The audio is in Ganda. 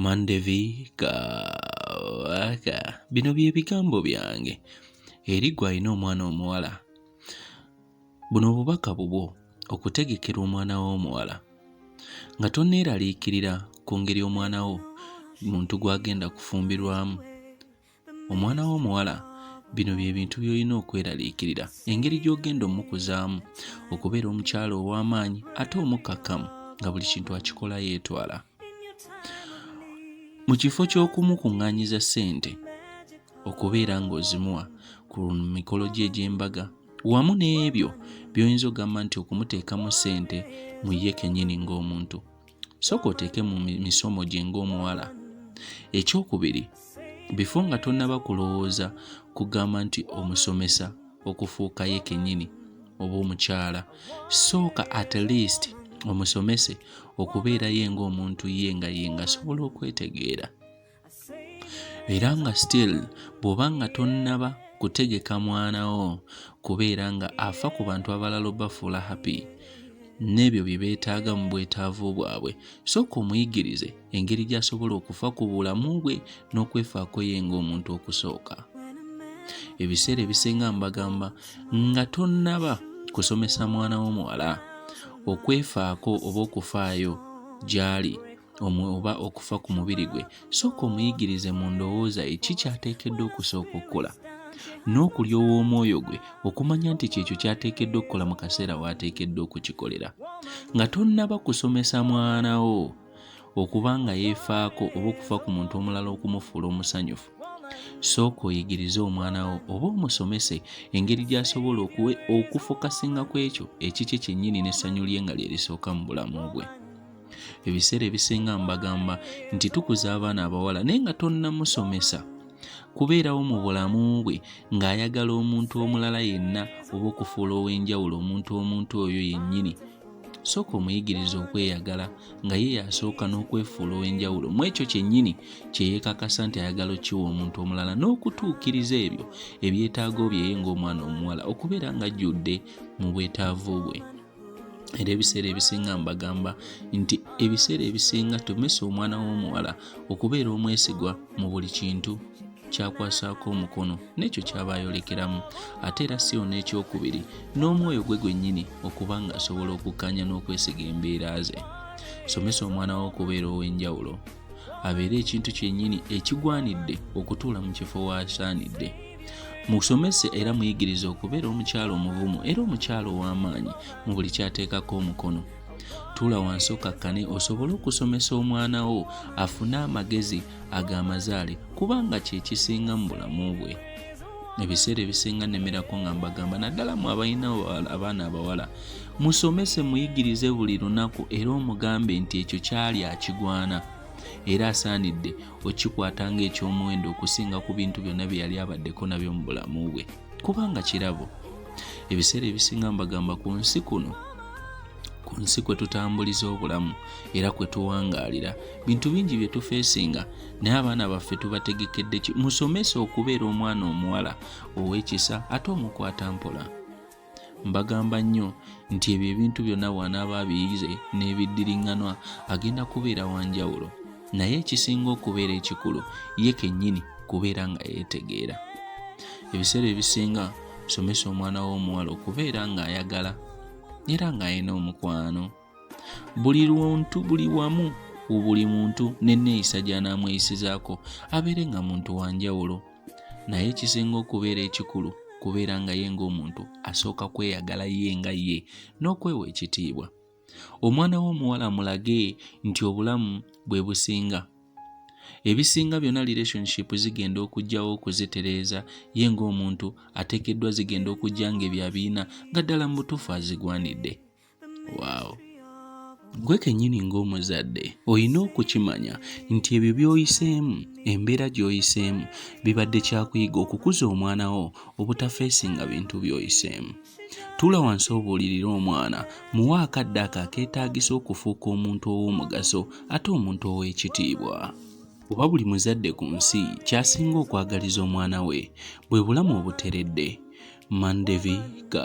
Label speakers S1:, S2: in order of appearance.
S1: mandevika waka bino bye bigambo byange eri gwe alina omwana omuwala buno obubaka bubwo okutegekera omwana wo omuwala nga tonneeraliikirira ku ngeri omwana wo muntu gw'agenda kufumbirwamu omwana w'omuwala bino bye bintu by'olina okweraliikirira engeri gy'ogenda omukuzaamu okubeera omukyalo ow'amaanyi ate omukkakkamu nga buli kintu akikola yeetwala mu kifo ky'okumukuŋŋaanyiza ssente okubeera ng'ozimuwa ku mikolo gye egy'embaga wamu n'ebyo by'oyinza ogamba nti okumuteekamu ssente mu ye kennyini ng'omuntu sooka oteeke mu misomo gye ng'omuwala ekyokubiri bifo nga tonnaba kulowooza kugamba nti omusomesa okufuuka ye kennyini oba omukyala sooka at least omusomese okubeerayo ng'omuntu ye nga ye ngasobola okwetegeera era nga still bw'oba nga tonnaba kutegeka mwana wo kubeera nga afa ku bantu abalala obafuula happy n'ebyo bye beetaaga mu bwetaavu bwabwe sooka omuyigirize engeri gy'asobola okufa ku bulamu bwe n'okwefaako ye ng'omuntu okusooka ebiseera ebisinga mbagamba nga tonnaba kusomesa mwana wo muwala okwefaako oba okufaayo gy'ali oba okufa ku mubiri gwe sooka omuyigirize mu ndowooza ye ki kyateekeddwa okusooka okukola n'okulyowa omwoyo gwe okumanya nti kyekyo kyateekeddwa okukola mu kaseera waateekeddwa okukikolera nga tonnaba kusomesa mwana wo okuba nga yeefaako oba okufa ku muntu omulala okumufuula omusanyufu sooka oyigirize omwana wo oba omusomese engeri gy'asobola okufokasinga ku ekyo ekikye kyennyini n'essanyu lye nga lye lisooka mu bulamu bwe ebiseera ebisinga mbagamba nti tukuza abaana abawala naye nga tonnamusomesa kubeerawo mu bulamu bwe ng'ayagala omuntu omulala yenna oba okufuula ow'enjawulo omuntu omuntu oyo yennyini sooka omuyigiriza okweyagala nga ye yasooka n'okwefuula ow'enjawulo mu ekyo kyennyini kye yeekakasa nti ayagala okiwa omuntu omulala n'okutuukiriza ebyo ebyetaago byeye ng'omwana omuwala okubeera ng'ajjudde mu bwetaavu bwe era ebiseera ebisinga mbagamba nti ebiseera ebisinga tumesa omwana w'omuwala okubeera omwesigwa mu buli kintu kyakwasaako omukono n'ekyo kyaba ayolekeramu ate era si ono ekyokubiri n'omwoyo gwe gwennyini okuba ng'asobola okukkaanya n'okwesiga embeera ze somesa omwana wo okubeera ow'enjawulo abeere ekintu kyennyini ekigwanidde okutuula mu kifo waasaanidde musomese era muyigirize okubeera omukyalo omuvumu era omukyalo ow'amaanyi mu buli kyateekako omukono tuula wansi okakkane osobole okusomesa omwana wo afune amagezi ag'amazaale kubanga kye kisinga mu bulamu bwe ebiseera ebisinga nemerako nga mbagamba naddala mu abalina abaana abawala Musomese, muyigirize buli lunaku, era omugambe nti ekyo kyali akigwana era asaanidde okikwata ng'eky'omuwendo okusinga ku bintu byonna bye yali abaddeko nabyo mu bulamu bwe, kubanga kirabo. Ebiseera ebisinga mbagamba ku nsi kuno ku nsi kwe tutambuliza obulamu era kwe tuwangaalira bintu bingi bye tufeesinga naye abaana baffe tubategekedde ki musomesa okubeera omwana omuwala ow'ekisa ate omukwata mpola mbagamba nnyo nti ebyo ebintu byonna bw'anaaba abiyize n'ebiddiriŋŋanwa agenda kubeera wa njawulo naye ekisinga okubeera ekikulu ye kennyini kubeera nga yeetegeera ebiseera ebisinga somesa omwana w'omuwala okubeera ng'ayagala era ng'alina omukwano buli luntu buli wamu buli muntu n'enneeyisa gy'anaamweyisizaako abeere nga muntu wa njawulo naye ekisinga okubeera ekikulu kubeera nga ye ng'omuntu asooka kweyagala ye nga ye n'okwewa ekitiibwa omwana we omuwala mulage nti obulamu bwe businga ebisinga byonna relationship zigenda okugyawo okuzitereeza ye ng'omuntu atekeddwa zigenda okujja ng'ebyo abiina nga ddala mu butuufu azigwanidde waawo gwe kennyini ng'omuzadde olina okukimanya nti ebyo by'oyiseemu embeera gy'oyiseemu bibadde kyakuyiga okukuza omwana wo obutafeesinga bintu by'oyiseemu tuula wansi obuulirira omwana muwa akadde ako akeetaagisa okufuuka omuntu ow'omugaso ate omuntu ow'ekitiibwa oba buli muzadde ku nsi kyasinga okwagaliza omwana we bwe bulamu obuteredde mandevika